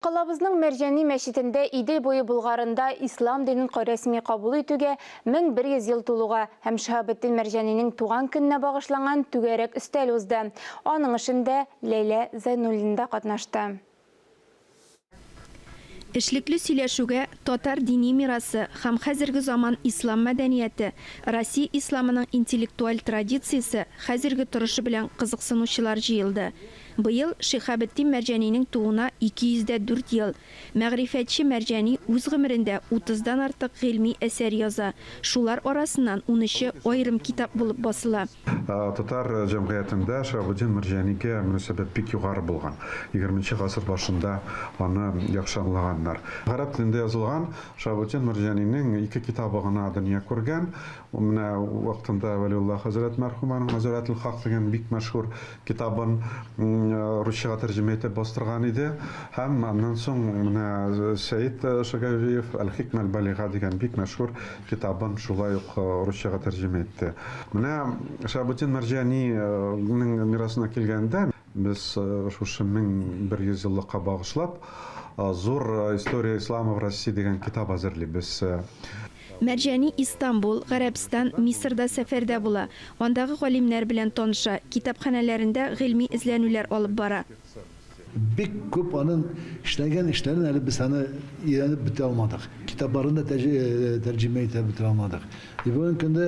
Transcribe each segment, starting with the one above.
Калабызның Мәрҗани мәчетендә Идел буе Болгарында ислам динен рәсми кабул итүгә 1100 ел тулуга һәм Шиһабетдин Мәрҗанинең туган көненә багышланган түгәрәк өстәл узды. Аның эшендә Ләйлә Зәйнуллина да катнашты. Эшлекле сөйләшүгә татар дини мирасы һәм хәзерге заман ислам мәдәнияте, Россия исламының интеллектуаль традициясе хәзерге торышы белән кызыксынучылар җыелды. Быел Шиһабетдин Мәрҗанинең тууына 204 ел. Мәгърифәтче Мәрҗани үз гомерендә утыздан артык гыйльми әсәр яза, шулар арасыннан унөче аерым китап булып басыла. Татар җәмгыятендә Шиһабетдин Мәрҗанигә мөнәсәбәт бик югары булган. Егерменче гасыр башында аны яхшы аңлаганнар. Гарәп телендә язылган Шиһабетдин Мәрҗанинең ике китабы гына дөнья күргән. Менә вакытында Вәлиулла хәзрәт мәрхүм аның Мазарәтел-Хак дигән бик мәшһүр китабын русчага тәрҗемә итеп бастырган иде һәм аннан соң менә Сәет Шагавиев Әл-хикмә әл-балига дигән бик мәшһүр китабын шулай ук русчага тәрҗемә итте. Менә Шаһабетдин Мәрҗанинең мирасына килгәндә, без шушы 1100 еллыкка багышлап Зур история ислама в России дигән китап әзерлибез. Мәрҗани Истанбул, Гарәбстан, Мисырда сәфәрдә була, андагы галимнәр белән таныша, китапханәләрендә гыйльми эзләнүләр алып бара. Бик күп аның эшләгән эшләрен әле без аны өйрәнеп бетерә алмадык, китапларын да тәрҗемә итә бетерә алмадык. И бүгенге көндә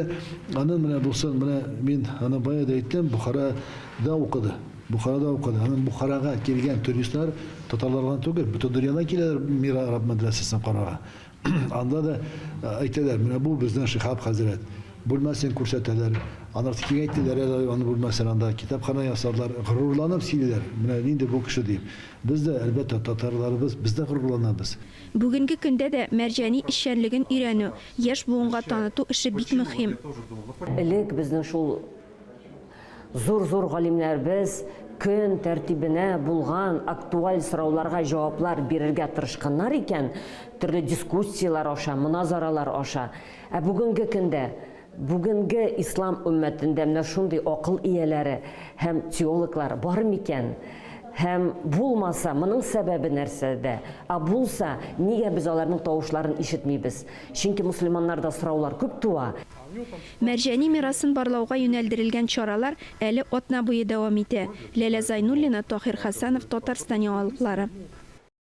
аның менә бусы, менә мин аны бая да әйттем, Бохарада укыды, Бохарада укыды. Аның Бухарага килгән туристлар татарлардан түгел, бөтен дөньядан киләләр Мира араб мәдрәсәсен карарга. Анда да әйтәләр, менә бу безнең Шиһап хәзрәт бүлмәсен күрсәтәләр. Аннары киңәйтәләр әле аның бүлмәсен, анда китапханә ясадылар. Горурланып сөйлиләр, менә нинди бу кеше дип. Без дә, әлбәттә, татарларыбыз, без дә горурланабыз. Бүгенге көндә дә Мәрҗани эшчәнлеген өйрәнү, яшь буынга таныту эше бик мөһим. Элек безнең шул Зур-зур галимнәребез көн тәртибенә булган актуаль сорауларга җаваплар бирергә тырышканнар икән, төрле дискуссияләр аша, моназаралар аша. Ә бүгенге көндә, бүгенге ислам өммәтендә менә шундый акыл ияләре һәм теологлар бар микән? Һәм булмаса, моның сәбәбе нәрсәдә? Ә булса, нигә без аларның тавышларын ишетмибез? Чөнки мөселманнарда сораулар күп туа. Мәрҗани мирасын барлауга юнәлдерелгән чаралар әле атна буе дәвам итә. Ләлә Зайнуллина, Таһир Хәсәнов, Татарстан яңалыклары.